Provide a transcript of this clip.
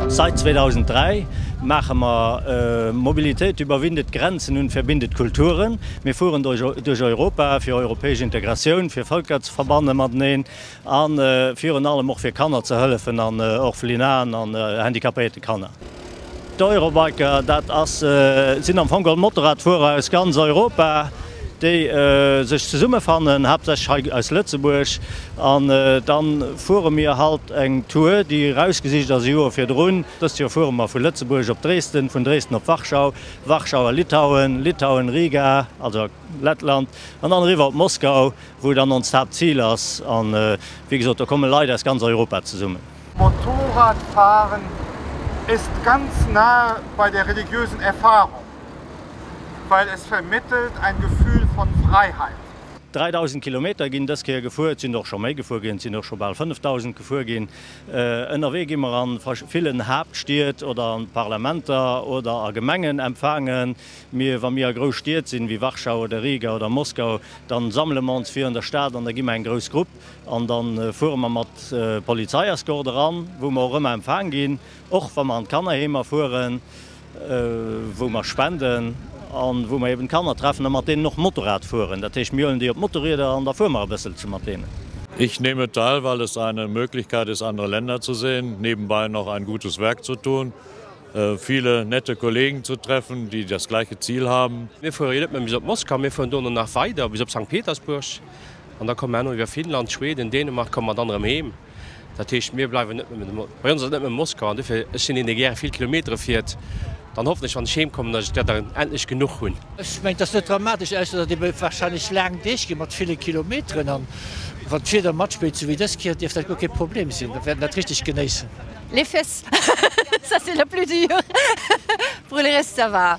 Sait 2003 maache mer Mobilitéit überwindet Grenzen und verbindet Kulturen. Mir fueren duerch Europa fir europäesch Integratioun, fir Völker ze verbanne mateneen a virun allem och fir Kanner ze hëllefen an Orphelinaen an handicapéierte Kanner. D'Eurobiker, dat sinn am Fong geholl Motorradfuerer aus ganz Europa, déi sech zesummefannen, haaptsächlech hei aus Lëtzebuerg. An da fuere mir halt eng Tour, déi erausgesicht ass e Joer virdrun. Dëst Joer fuere mer vu Lëtzebuerg op Dresden, vun Dresden op Warschau, Warschau a Litauen, Litauen, Riga, also Lettland, an dann eriwwer op Moskau, wou dann onst Haaptzil ass. A wéi gesot, do komme Leit aus ganz Europa zesummen. Motorradfahren ist ganz nahe bei der religiösen Erfahrung, weil es vermittelt ein Gefühl von Freiheit. 3.000 Kilometer ginn dës Kéier gefuer, et sinn och scho méi gefuer ginn, et sinn och scho bal 5.000 gefuer ginn. Ënnerwee gi mer a villen Haaptstied oder an d'Parlamenter oder a Gemengen empfaangen. Mir, wa mir a grouss Stied sinn, wéi Warschau oder Riga oder Moskau, dann sammele mer ons fir an der Stad an da gi mer eng grouss Grupp. An dann fuere mer mat Polizeiescort eran, wou mer och ëmmer empfaang ginn, och wa mer an d'Kannerheemer fueren, wou mer spenden an wou mer eben d'Kanner treffen a mat deenen och Motorrad fueren. Dat heescht, mir huelen déi op d'Motorrieder an da fuere mer e bëssel zu mat deenen. Ich nehme teil, weil es eine Möglichkeit ist, andere Länder zu sehen, nebenbei noch ein gutes Werk zu tun, viele nette Kollegen zu treffen, die das gleiche Ziel haben. Mir fuere jo net méi bis op Moskau, mir fueren dono nach weider bis op Sankt Petersburg An da komme mer iwwer Finnland, Schweden, Dänemark komme mer dann erëm heem. Dat heescht, mir bleiwen net nëmmen, bei ons ass et net nëmmen Moskau. An dofir, ech sinn een, dee gäre vill Kilometere fiert. Dann hoffen ech, wann ech heemkommen, datt ech där dann endlech genuch hunn. Ech mengen, et ass net dramatesch, ausser datt ebe warscheinlech laang Deeg ginn, mat ville Kilometeren. An wann d'Wieder matspillt, sou wéi dës Kéier, dierft dat guer kee Problem sinn. Mir wäerten dat richteg genéissen. Les fesses, ça c'est la plus dure, brûlerais, ça va.